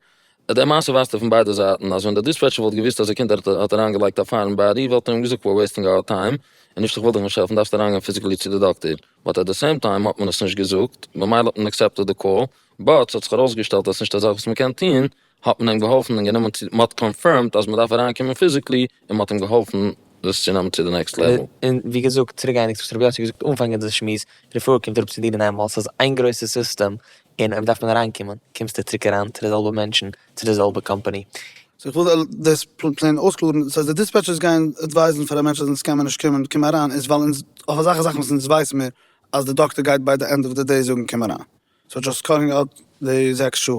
די מעשה ווייזט פון ביידע זייטן אז ווען די דיספעטשער וואלט געוואוסט אז א קינד האט אריין געלייגט א פייער אין באדי וואלט ער אים געזאגט וואו וועסטינג אווער טיים און נישט איך וויל דיך נישט העלפן דארפסט אריינגיין פיזיקלי צו די דאקטער, באט עט די סעים טיים האט מען עס נישט געזאגט במילא האט מען עקסעפטעד די קאל, באט ס'האט זיך ארויסגעשטעלט אז ס'נישט א זאך וואס מ'קען טון האט מען אים געהאלפן און גענומען צו, מ'האט קאנפירמד אז מ'דארף אריינקומען פיזיקלי, און מ'האט אים געהאלפן דאס צו נעמען צו די נעקסט לעוועל. און ווי געזאגט, צוריקגייענדיג צו וואס רבי יוסי האט געזאגט אנפאנג אונזער שמועס, רפואה קומט אראפ צו דיר און איינמאל, ס'איז איין גרויסע סיסטעם, און אויב דארף מען אריינקומען, קומסטו צוריק אריין צו די זעלבע מענטשן, צו די זעלבע קאמפאני. סאו איך וויל דאס פלעין אויסקלארן, סאו אז די דיספעטשערס גייען עדווייזן פאר א מענטש אז אונז קען מען נישט קומען, קום אריין, איז ווייל אונז, אויף אזעלכע זאכן וואס אונז ווייס מיר אז די דאקטער גייט ביי די ענד אוו די דעי זאגן קום אריין. סאו דזשאסט קאלינג אוט די זעקס שעה,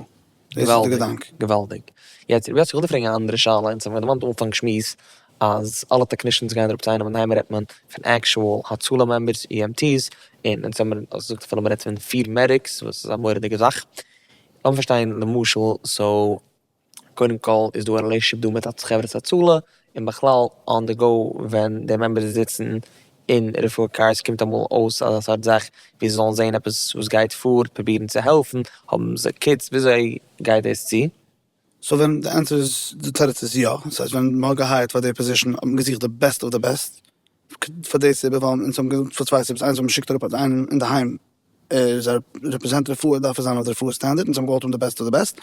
דאס איז די געדאנק. געוואלדיג. יעצט רבי יוסי כ'וויל דיר פרעגן א אנדערע שאלה, אונז האבן געדערמאנט אין אנפאנג שמועס אז אלע טעקנישאנס גייען אראפ צו איינעם און די היימער רעדט מען פון עקשועל הצלה מעמבערס אי עם טי'ס, און אונז האבן מיר אויך געזאגט אז מ'רעדט פון פיר מעדיקס וואס איז א מורא'דיגע זאך. לאמיר פארשטיין למשל סאו קודם כל איז דא א רילעישאנשיפ דא מיט א חברת הצלה, און בכלל אן די גאו ווען די מעמבערס זיצן אין רפואה קארס קומט אמאל אויס אזא סארט זאך ווי זיי זאלן זעהן עפעס וואס גייט פאר פרובירן צו העלפן, האבן זיי קיטס, וויאזוי גייט דאס צו? סא ווען די ענטפער איז, די תירוץ איז יא, סאיז ווען מען האט געהייערט פאר די פאזישן האט מען געזוכט די בעסט אוו די בעסט, פאר די סיבה ווייל אונז האבן געזאגט פאר צוויי סיבות, איינס ווייל מען שיקט אראפ אינדערהיים, ער איז רעפרעזענט רפואה דארף ער זיין אויף די רפואה סטענדערט און זיי האבן געוואלט האבן די בעסט אוו די בעסט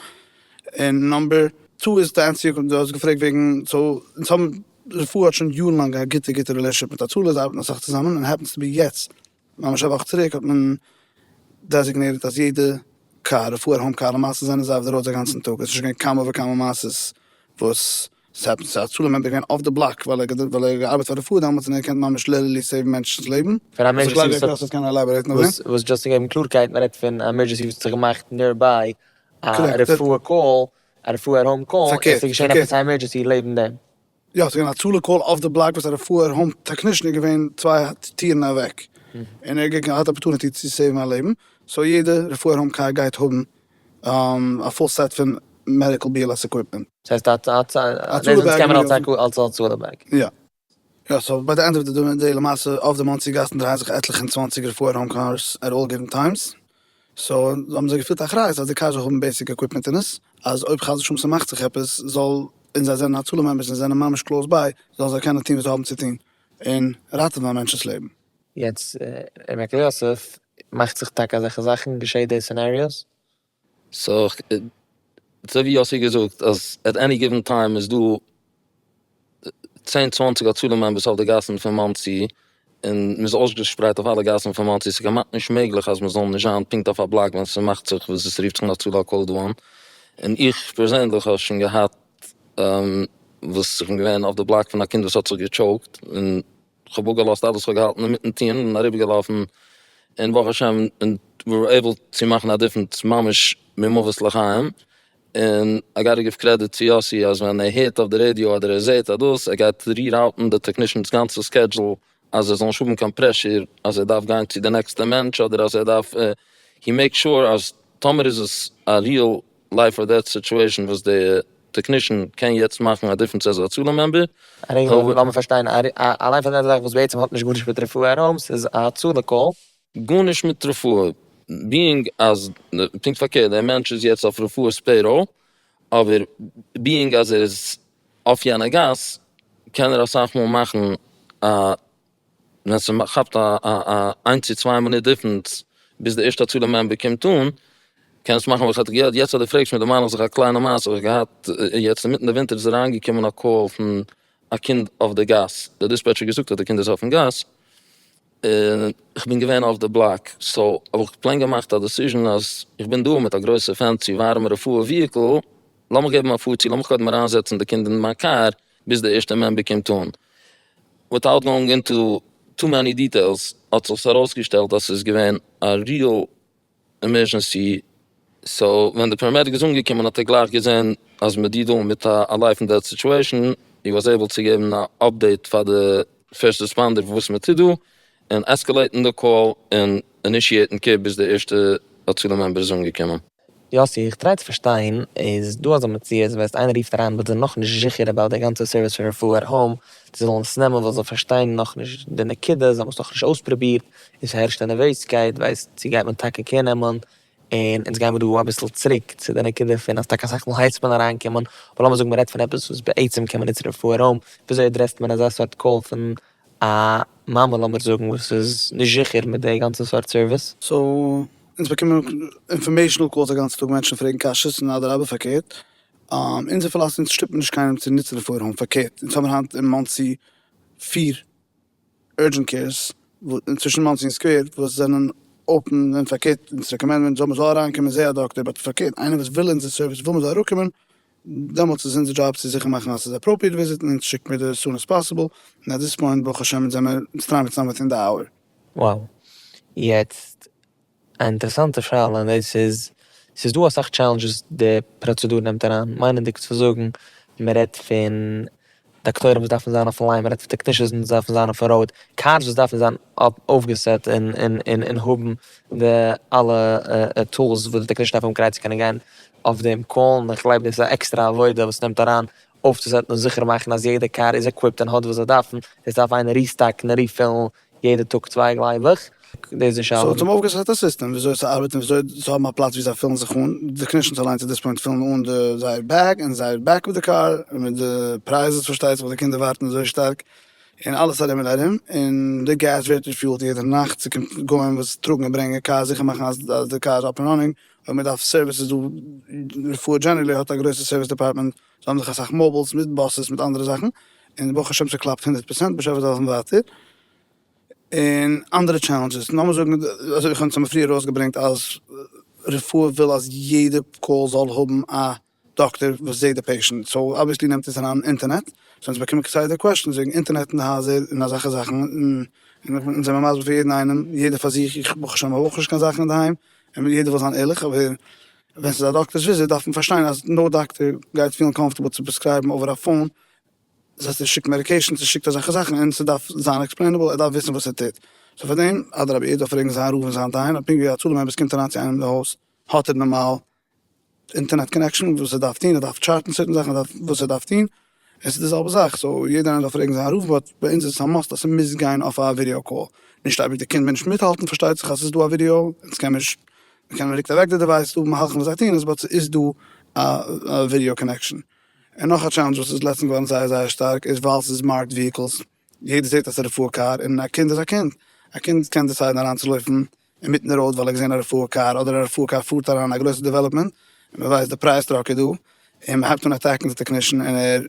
און נאמבער טו איז די ענטסי דו האסט געפרעגט וועגן סאו אונז האבן רפואה האט שוין יארן לאנג א גוטע גוטע רילעשענשיפ מיט הצלה זיי ארבעטן אסאך צוזאמען און העפענס טו בי יעצט ממש א וואך צוריק האט מען דעזיגנירט אז יעדע קאר רפואה און האום קאר למעשה זענען זיי אויף די ראודס א גאנצן טאג עס איז שוין געווען כמה וכמה מעשות וואס. ס'האט הצלה מעמבער געווען אויף די בלאק ווייל ער האט געארבעט פאר רפואה דאמאלטס און ער קען ממש ליטערלי סעיוון מענטשנ'ס לעבן. פאר א עמערדזשענסי וואס האט. ס'איז קיין עלאבארעיטן אויף דעם. וואס דזשאסט צו געבן קלארקייט מען רעדט פון א עמערדזשענסי וואס האט זיך געמאכט ניערביי א רפואה קאל א רפואה האום קאל און ס'איז געשען עפעס א עמערדזשענסי לעבן דעם. יא ס'איז געווען א הצלה קאל אויף די בלאק וואס א רפואה האום טעקנישן איז געווען צוויי טירן אוועק און ער האט געהאט אפערטוניטי צו סעיוון א לעבן סאו יעדע רפואה האום קאר גייט האבן א פול סעט פון מעדיקל בי על עס עקוויפמענט. ס'הייסט א הצלה בעג און מיר האבן. אלס א הצלה בעג. יא. יא סאו ביי די ענד אוו די דעי למעשה אויף די מאנסי גאסן דרייען זיך עטליכע און צוואנציגער פייער האום קארס עט אלל גיווען טיימס. סאו האבן זיי געפילט אחריות אז די קארס זאל האבן בעיסיק עקוויפמענט אין עס אז אויב חס ושלום ס'מאכט זיך עפעס זאל, און זיי זענען הצלה מעמבערס און זענען ממש קלאוס ביי, זאלן זיי קענען טון וואס זיי האבן צו טון און ראטעווען א מענטש'ס לעבן. יעצט אין מקוה יוסף מאכט זיך טאקע אזעלכע זאכן, געשעט די סינעריאוס? סאו אזוי ווי יאסי האט געזאגט אז עט עני גיווען טיים איז דא צען צוואנציג הצלה מעמבערס אויף די גאסן פון מאנסי, און מען איז אויסגעשפרייט אויף אלע גאסן פון מאנסי, ס'איז כמעט נישט מעגליך אז מען זאל נישט זיין פונקט אויף א בלאק ווען ס'מאכט זיך וואס עס רופט זיך אן הצלה על כל דאון, און איך פערזענדליך האב שוין געהאט וואס איך בין געווען אויף די בלאק פון א קינד וואס האט זיך געטשאוקט און כ'האב אפגעלאזט אלעס וואס כ'האב געהאלטן אינמיטן טון און אריבערגעלאפן, און ברוך השם ווי ווער עיבל צו מאכן א דיפענס ממש ממוות לחיים, און איי גאטע גיוו קרעדיט צו יאסי אז ווען ער הערט אויף די רעדיא אדער ער זעהט אז דאס ער גייט ריראוטן די טעקנישענס גאנצע סקעדזשול אז זיי זאלן נישט האבן קיין פרעשור אז ער דארף גיין צו די נעקסטע מענטש אדער אז ער דארף, הי מעיק שור אז טאמער איז עס א ריעל לייף אר דעט סיטועשן וואס די טעקנישן קען יעצט מאכן א דיפרענס עז א הצלה מעמבער. א רעגל אדער לאמיר פארשטיין א ליין פאר דעט זאך וואס בעצם האט נישט גארנישט מיט רפואה ארום ס'איז א הצלה קאל. גארנישט מיט רפואה ביאינג אז פונקט פארקערט דער מענטש איז יעצט אויף רפואה'ס פעיראל אבער ביאינג אז ער איז אויף יענע גאס קען ער אסאך מאל מאכן א ווען ס'כאפט א איינס צו צוויי מינוט דיפרענס ביז די ערשטע הצלה מעמבער קומט אן, קען עס מאכן וואס האט געהערט, יעצט אז דו פרעגסט מיר דערמאן איך זיך א קליינע מעשה וואס איך געהאט, יעצט אינמיטן די ווינטער איז אריינגעקומען א קאל פון א קינד אויף די גאס, די דיספעטשער האט געזאגט אז די קינד איז אויפן גאס, און איך בין געווען אויף די בלאק, סאו האב איך פלעין געמאכט א דעסיזשען אז איך בין דא מיט א גרויסע פענסי ווארעמע רפואה וויהיקל, לאמיך געבן א פאר צו, לאמיך קודם אריינזעצן די קינד אין מיין קאר, ביז די ערשטע מעמבער קומט אן. וויטאוט גאונג אינטו טו מעני דיטעילס האט זיך עס ארויסגעשטעלט אז ס'איז געווען א ריעל עמערזשענסי, סאו ווען די פאראמעדיק איז אנגעקומען האט ער גלייך געזען אז מען דיעלט דא מיט א לייף און דעט סיטועשאן, הי וואס עיבל צו געבן א אפדעיט פאר די פירסט רעספאנדער וואס מען טוט דא, און עסקעלעיטן די קאל און אינישיעיטן קו ביז די ערשטע הצלה מעמבער איז אנגעקומען. יאסי, איך טריי צו פארשטיין, איז דא אזא מציאות ווען איינער רופט אריין וואס זענען נאכנישט זיכער אבאוט די גאנצע סערוויס פון רפואה עט האום, זיי זאלן עס נעמען ווייל זיי פארשטייען נאכנישט די נקודה, זיי האבן עס נאכנישט אויספרובירט, און ס'הערשט א נערוועזקייט, ווייסט צו גייט מען טאקע קער נעמען, און אונז גיימער דא אביסל צוריק צו די נקודה פון אז טאקע אסאך מאל הייסט מען אריינקומען, אבער לאמיר זאגן מ'רעדט פון עפעס וואס בעצם קען מען נוצן רפואה עט האום, וויאזוי עדרעסט מען אזא סארט קאל פון א מאמר לאמיר זאגן וואס איז נישט זיכער מיט די גאנצע סארט סערוויס. סאו אונז באקומען אינפארמעישאנעל קאלס א גאנצע טאג מענטשן פרעגן קשיות און אדרבה פארקערט אונזער פילאספי אונז שטופן נישט קיינעם צו נוצן די פארהאן פארקערט אונז האבן היינט אין מאנסי פיר אורדזשענט קעירס צווישן מאנסי און סקווער וואס זענען אפען און פארקערט אונז רעקאמענדן מענטשן זאל מען זאל אריינקומען זעה א דאקטער באט פארקערט איינער וואס וויל אונזער סערוויס וויל מען זאל אראפקומען דעמאלטס איז אונזער דזשאב צו זיכער מאכן אז ס'איז אפראפריעט וויזיטן און צו שיקן מיט די עס סון עס פאסיבל, און עט דיס פוינט ברוך השם זעמער אונז טריי מיט סאמוועטין די אווער. וואו. יעצט א אינטערעסאנטע שאלה און דאס איז, ס'איז דא אסאך טשעלענדזשעס די פראצעדור נעמט אריין, מיינענדיג צו זאגן מען רעדט פון דאקטוירים וואס דארפן זיין אויף ליין, מ'רעדט פון טעקנישאנס וואס דארפן זיין אויף ראוד, קארס וואס דארפן זיין אויפגעסעט און האבן די אלע טולס וואס די טעקנישאן דארף האבן כדי צו קענען גיין אויף דעם קאל, און איך גלייב דאס איז א עקסטערע עבודה וואס נעמט אריין אויפצוסעטן און זיכער מאכן אז יעדע קאר איז עקוויפט און האט וואס זיי דארפן, עס דארף איינער ריסטאקן און ריפילן יעדע טאג צוויי גלייב איך, דאס איז נישט אלעמען. סאו האט אים אויפגעסעט א סיסטעם וויאזוי צו ארבעטן וויאזוי צו האבן א פלאץ ווי זיי פילן זיך אן, די קנישענס אליין צו דאס פוינט פילן אן די זייער בעג און זייער בעק אוו די קאר, און מיט די פרייזעס פארשטייט זיך וואס די קינדער ווארטן אזוי שטארק, און אלעס ארום און ארום, און די געז ווערט ריפיולט יעדע נאכט, ס'קומט גוים וואס טראגן און ברענגען קאר זיכער מאכן אז די קאר איז אפ און ראנינג, אויב מ'דארף סערוויס איז דא, רפואה דזשענערלי האט א גרויסע סערוויס דעפארטמענט זיי האבן זיך אסאך מאבילס מיט באסעס מיט אנדערע זאכן און ברוך השם ס'קלאפט הונדערט פראצענט בשפע זיי העלפן ווייטער און אנדערע טשעלענדזשעס נאמער זאגן אזוי ווי כ'האב פריער ארויסגעברענגט אז רפואה וויל אז יעדע קאל זאל האבן א דאקטער וואס זעהט די פעישענט סאו אבוויעסלי נעמט עס אריין אינטערנעט סאו אונז באקומען כסדר קוועשענס וועגן אינטערנעט אין די הייזער און אזעלכע זאכן און אונז זעמיר מסביר פאר יעדן איינעם יעדער פאר זיך איך ברוך השם האב אויך נישט קיין זאכן אינדערהיים און יעדער וויל זיין ערליך אבער. ווען ס'איז א דאקטער'ס וויזיט דארף מען פארשטיין אז נאו דאקטער גייט פילן קאמפארטעבל צו פרעסקרייבן אווער א פאון, דאס הייסט ער שיקט מעדיקעישאנס ער שיקט אזעלכע זאכן און ס'דארף זיין עקספלעינעבל ער דארף וויסן וואס ער טוט, סאו פאר דעם אדרבה ער דארף פרעגן זיין רב און זיין דיין און פונקט ווי א צלה מעמבער ס'קומט אריין צו איינעם אין די הויז האט ער נארמאל אינטערנעט קאנעקשאן וואס ער דארף טון ער דארף טשארטן צעטן זאכן ער דארף וואס ער דארף טון. עס איז די זעלבע זאך, סאו יעדער איינער זאל פרעגן זיין רב, באט ביי אונז איז עס א מאסט אז ס'מוז גיין אויף א ווידיאו קאל, נישט אויב די קינד וויל נישט מיטהאלטן פארשטייט זיך אז ס'איז דא א ווידיאו, אונז קען נישט, מ'קען מען רוקט אוועק די דעווייס, ס'איז דא מהלכים וואס זיי טוהן עס באט ס'איז דא א ווידיאו קאנעקשאן. און נאך א טשעלענדזש וואס איז לעצטענס געווארן זייער זייער שטארק איז ווייל ס'איז מארקד וויהיקלס, יעדער זעט אז רפואה קאר און א קינד איז א קינד, א קינד קען דיסיידן אריין צו לויפן אינמיטן ראוד ווייל ער האט געזען א רפואה קאר אדער א רפואה קאר פארט אריין אין א גרויסע דעוועלאפמענט און מען ווייסט די פרייז טראק איז דא און מען הייבט אן אטעקן די טעקנישן און ער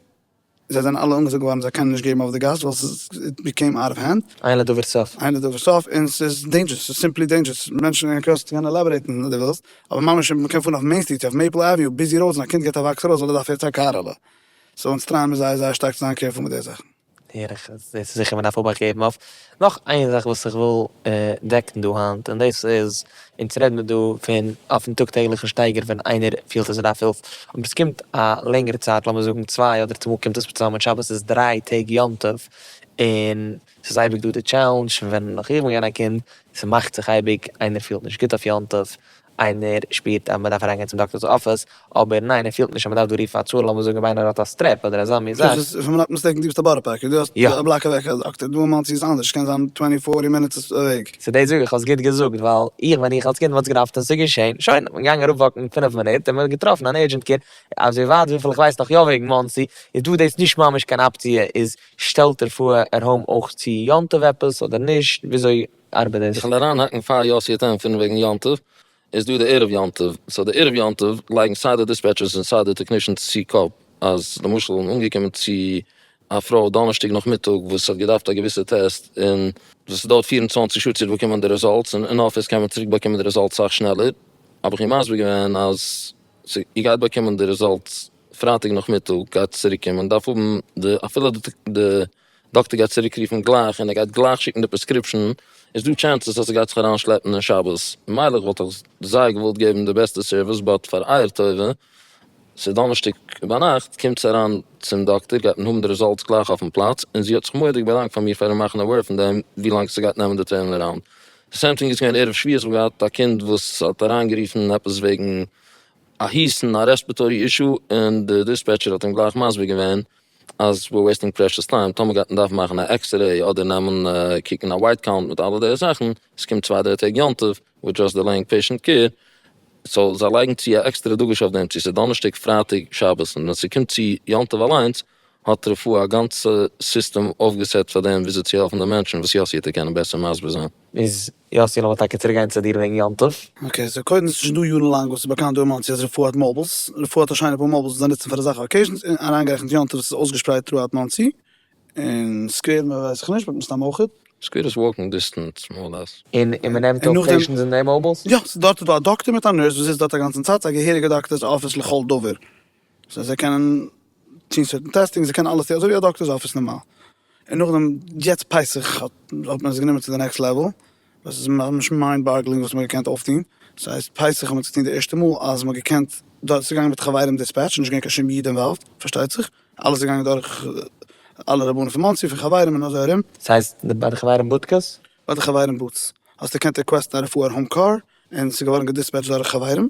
זיי זענען אלע אנגעזאגט געווארן זיי קענען נישט געבן אויף די גאס ווייל ס'איז איט ביקעים אוט אוו הענד. עיין לדבר סוף. עיין לדבר סוף, און ס'איז דעינדזשערס, ס'איז סימפלי דעינדזשערס, מענטשן אין קראסן קען עלאבארעיטן אויב דו ווילסט, אבער ממש מען קען פארן אויף מעין סטריט אויף מעיפל עווניו ביזי ראודס און א קינד געט א וואקס ארויס ווייל ער דארף יעצט א קאר, האלא. סאו אונז טרייען מיר זייער זייער שטארק צו זיין קערפול מיט די זאכן. הער איך אז דאס איז זיכער מ'דארף אבאכט געבן אויף נאך איין זאך וואס איך וויל דעקן דא היינט און דאס איז אונז רעד מיר דא פון אויפן טאג טעגליכן שטייגער ווען איינער פילט אז ער דארף הילף אבער עס קומט א לענגערע צייט לאמיר זאגן צוויי אדער צומאל קומט עס צוזאמען מיט שבת איז דריי טעג יום טוב און ס'איז אייביג דא די טשעלענדזש פון ווען נאך איך בין געווען א קינד ס'מאכט זיך אייביג איינער פילט נישט גוט אויף יום טוב איינער שפירט אז מען דארף אריינגיין צום דאקטאר'ס אפיס, אבער ניין ער פילט נישט אז מען דארף דא רופן א צאל, לאמיר זאגן ווען איינער האט א סטרעפ אדער אזא מין זאך. סאיז פון מ'נאט מיסטעיקן דו ביסט א בארא פארקער, דו האסט א בלאק אוועק א דאקטער, דא אין מאנסי איז אנדערש סקען זיין טווענטי פארטי מינוטס וועג. סא דאס זאג איך האסט גוט געזאגט ווייל איך ווען איך אלס קינד וואלט געדארפט און סאיז געשען שוין האט מען געגאנגען אראפ וואקן פֿינף מינוט און מען האט געטראפן אן ערדזשענט קעיר אזוי ווייט וויפיל איך ווייס נאך יא וועגן מאנסי איז דא דאס נישט ממש קיין אפציע איז שטעלט ער פאהר ער האום אויך צו יום טוב עפעס אדער נישט וויאזוי ארבעט דאס? איך וועל אריינהאקן פאר יאסי האט ענטפערן וועגן יום טוב, איז דא די ערב יום טוב, סאו די ערב יום טוב לייגן סיי די דיספעטשערס און סיי די טעקנישענס צו קאפ אז למשל אנגעקומען צו א פרוי דאנערשטאג נאכמיטאג וואס האט געדארפט א געוויסע טעסט און וואס דויערט פֿיר און צוואַנציק שעה צו באקומען די רעזאלטס און אין אפיס קען מען צוריק באקומען די רעזאלטס סאך שנעלער, האב איך איר מסביר געווען אז איר גייט באקומען די רעזאלטס פרייטאג נאכמיטאג גייט צוריקקומען דארף האבן די אפילו די. דאקטער גייט צוריק רופן גלייך און ער גייט גלייך שיקן די פרעסקריפשאן, איז דא טשענסעס אז ס'גייט זיך אריין שלעפן אין שבת, ממילא כ'וואלט אויך זייער געוואלט געבן די בעסטע סערוויס באט פאר אייער טובה, ס'איז דאנערשטאג ביינאכט, קומטס אריין צום דאקטער גייט מען האבן די רעזאלטס גלייך אויפן פלאץ, און זי האט זיך מורא'דיג באדאנקט פאר מיר פארן מאכן עוועיר פון דעם ווילאנג ס'גייט נעמען די טורן אראונד. די סעים טינג איז געווען ערב שביעי, כ'האב געהאט א קינד וואס האט אריינגערופן עפעס וועגן א הוסטן א רעספעטארי אישו, און די דיספעטשער האט אים גלייך מסביר געווען אז וויר וועיסטינג פרעשעס טיים, טאמער גייט מען דארפן מאכן א עקסרעי אדער נעמען קוקן א ווייט קאונט מיט אלע די זאכן, עס קומט צוויי דריי טעג יום טוב וויל דזשאסט דעלעינג פעישענט קעיר, סאו זיי לייגן צו א עקסטערע דגוש אויף דעם צו ס'איז דאנערשטאג פרייטאג שבת, און ווען ס'קומט צו יום טוב אליינס האט רפואה א גאנצע סיסטעם אויפגעסעט פאר דעם וויאזוי צו העלפן די מענטשן וואס יאסי העט דיר קענען בעסער מסביר זיין. איז יאסי לאמיר טאקע צוריק גיין צו דיר וועגן יום טוב. אקעי סאו קודם עס איז שוין דא יארן לאנג וואס איז באקאנט דא אין מאנסי אז רפואה האט מאבילס, רפואה האט א שיינע פאר מאבילס וואס זיי נוצן פאר אזאלכע אקעיזשענס אריינגערעכנט יום טוב וואס איז אויסגעשפרייט טראאוט מאנסי, און סקווער ווייס איך נישט באט מסתם אויכעט. סקווער איז וואלקינג דיסטענס מאר אור לעס. און מען נעמט אויף פעישענטס אין די מאבילס? יא, ס'איז דארט איז דא א דאקטער מיט א נורס וואס זיצט דארט א גאנצן צייט, ס'איז א געהעריגע דאקטער'ס אפיס לכל דבר. סאו זיי קענען טוהן סערטען טעסטינג, זיי קענען אלעס טוהן אזוי ווי א דאקטערס אפיס נארמאל, און נאכדעם יעצט פסח האט מען עס גענומען צו די נעקסט לעוועל, וואס איז ממש מיינד באגלינג וואס מען האט געקענט אויפטוהן, ס'הייסט פסח האט מען עס געטוהן די ערשטע מאל אז מען האט געקענט, דארט איז געגאנגען מיט חברים דיספעטש, נישט געווען קיין שום איד אינוואלווד, פארשטייט זיך, אלעס איז געגאנגען דורך אלע רבנים פון מאנסי, פון חברים און אזוי ארום. ס'הייסט ביי די חברים בודקעס? ביי די חברים בוטס, האסט געקענט ריקוועסטן א רפואה און האום קאר, און ס'איז געווארן געדיספעטשט דורך חברים.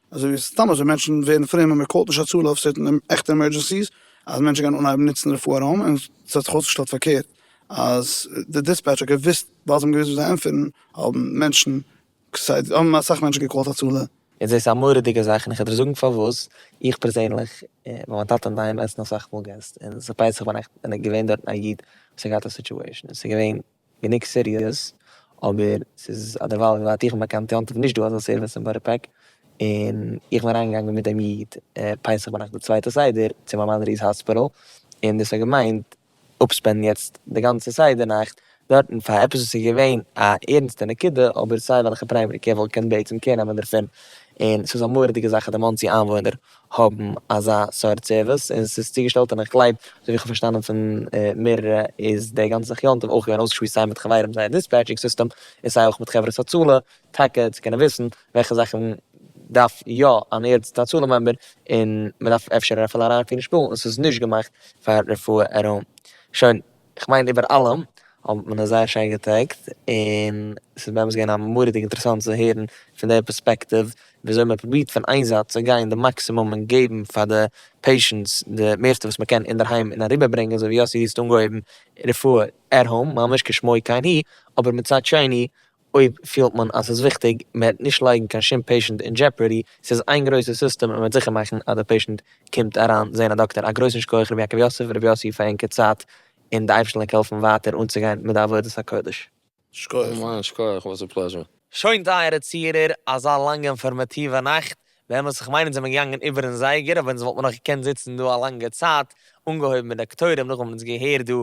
אזוי ווי סתם אזוי מענטשן ווערן פרום און מען קאלט נישט הצלה אויב ס'וועט אין עכטע עמערדזשענסיס אז מענטשן גייען אנהייבן נוצן רפואה ארום און ס'האט זיך אויסגעשטעלט פארקערט אז די דיספעטש האט געוויסט ווייל זיי האבן געוויסט וואס זיי ענטפערן האבן מענטשן כסדר האבן אסאך מענטשן געקאלט הצלה. איז דאס א מורא'דיגע זאך און איך וועל דיר זאגן פארוואס, איך פערזענליך בין מיין טאטע אינדערהיים עסן אסאך מאל געסט און ס'פייסעך ביינאכט און געווען דארטן א איד וואס האט געהאט א סיטועשאן און ס'געווען גענוג סיריעס, אבער ס'איז אדערווייל ווי ווייט איך בין באקאנט טוען זיך נישט דא אזא סערוויס אין בארא פארק, און איך בין אריינגעגאנגען מיט דעם איד פסח ביינאכט די צווייטע סדר צו מיין מאדעריס האספיטעל, און דאס האט געמיינט אפספענדן יעצט די גאנצע סדר נאכט דארטן פאר עפעס וואס איז געווען א ערנסטע נקודה אבער סיי וועלכע פריימערי קעיר וואלט געקענט בעצם קער נעמען דערפון, און ס'איז א מורא'דיגע זאך אז די מאנסי איינוואוינער האבן אזא סארט סערוויס און ס'איז צוגעשטעלט און איך גלייב אזוי ווי איך האב פארשטאנען פון מערערע איז די גאנצע זיך יום טוב אויך געווען אויסגעשמועסט סיי מיט חברים זייער דיספעטשינג סיסטעם און סיי אויך מיט חברת הצלה טאקע צו קענען וויסן וועלכע זאכן דארף יא אן ערנסטע הצלה מעמבער און מ'דארף אפשר אפילו אריינפירן שפילן און ס'איז נישט געמאכט פאר רפואה ארום שוין איך מיין איבער אלעם האט מען עס זייער שיין געטעגט, און ס'איז באמת געווען א מורא'דיג אינטערעסאנט צו הערן פון דער פערספעקטיוו ווי אזוי מען פרובירט פון איין זייט צו גיין די מאקסימום און געבן פאר די פעישענטס די מערסטע וואס מען קען אינדערהיים און אריבערברענגען אזוי ווי יאסי האסט אנגעהויבן רפואה עט האום ממש כשמו כן הוא, אבער מצד שני אויב פילט מען אז ס'איז וויכטיג, מען וועט נישט לייגן קיין שום פעישענט אין דזשעפערדי, ס'איז איין גרויסע סיסטעם און מען וועט זיכער מאכן אז די פעישענט קומט אריין זעהן א דאקטער, א גרויסן שכח ר' יעקב יוסף און ר' יוסי פאר ענקער צייט און די אייבערשטן לאיג העלפן ווייטער אנצוגיין מיט די עבודת הקודש. שכוח. אמן, שכוח, וואס א פלעזשור. שוין טייערע צוהערער, אזא לאנגע אינפארמאטיווע נאכט, באמת איך מיין אונז זעמער געגאנגען איבערן זייגער, אבער אונז וואלט מען נאך געקענט זיצן דא א לאנגע צייט, אנגעהויבן מיט דאקטוירים, נאכדעם האבן אונז געהערט דא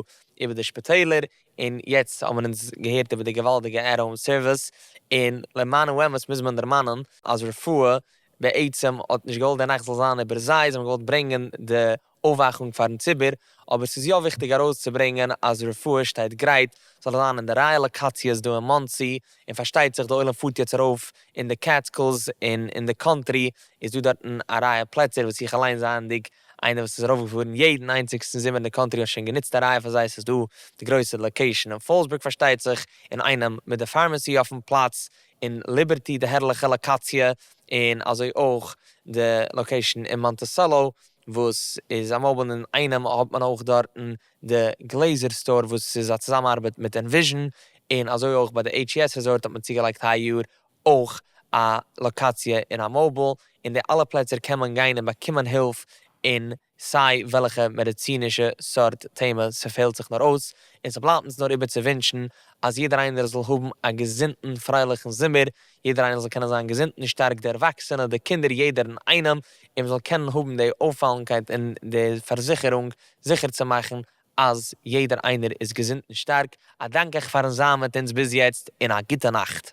איבער די שפיטעלער, און יעצט האבן אונז געהערט איבער די געוואלדיגע עט האום סערוויס, און למען האמת מוז מען דערמאנען אז רפואה בעצם האט נישט געוואלט די נאכט זאל זיין איבער זיי, זיי האבן געוואלט ברענגען די אויפוואכונג פארן ציבור, אבער ס'איז יא וויכטיג ארויסצוברענגען אז רפואה שטייט גרייט, זאל זיין אין די רייע לאקאציעס דא אין מאנסי, און פארשטייט זיך די עולם פארט יעצט ארויף אין די קעטסקילס, און אין די קאנטרי איז דא דארטן א רייע פלעצער וואס איך אליינס זייענדיג איינער וואס איז ארויפגעפארן יעדן איינציגסטן זומער אין די קאנטרי האט שוין גענוצט א רייע פאר זיי, ס'איז דא די גרויסע לאקעישאן אין פאלסבורג פארשטייט זיך, אינאיינעם מיט די פארמעסי אויפן פלאץ, און ליבערטי די הערליכע לאקאציע, און אזוי אויך די לאקעישאן אין מאנטיסעלא וואס איז א מאובל, אינאיינעם האט מען אויך דארטן די גלעזער סטאר וואס איז א צוזאמארבעט מיט ענוויזשען, און אזוי אויך ביי די HES ריזארט האט מען צוגעלייגט היי יאר אויך א לאקאציע און א מאוביל, אין די אלע פלעצער קען מען גיין און באקומען הילף אין סיי וועלכע מעדיצינישע סארט טעמע ס'פעלט זיך נאר אויס, און ס'בלייבט אונז נאר איבער צו ווינטשן אז יעדער איינער זאל האבן א געזונטן פרייליכן זומער, יעדער איינער זאל קענען זיין געזונט און שטארק די ערוואקסענע, די קינדער יעדער אין איינעם, און מ'זאל קענען האבן די אויפאלנקייט און די פארזיכערונג זיכער צו מאכן אז יעדער איינער איז געזונט און שטארק, א דאנק אייך פארן זיין מיט אונז ביז יעצט, און א גוטע נאכט.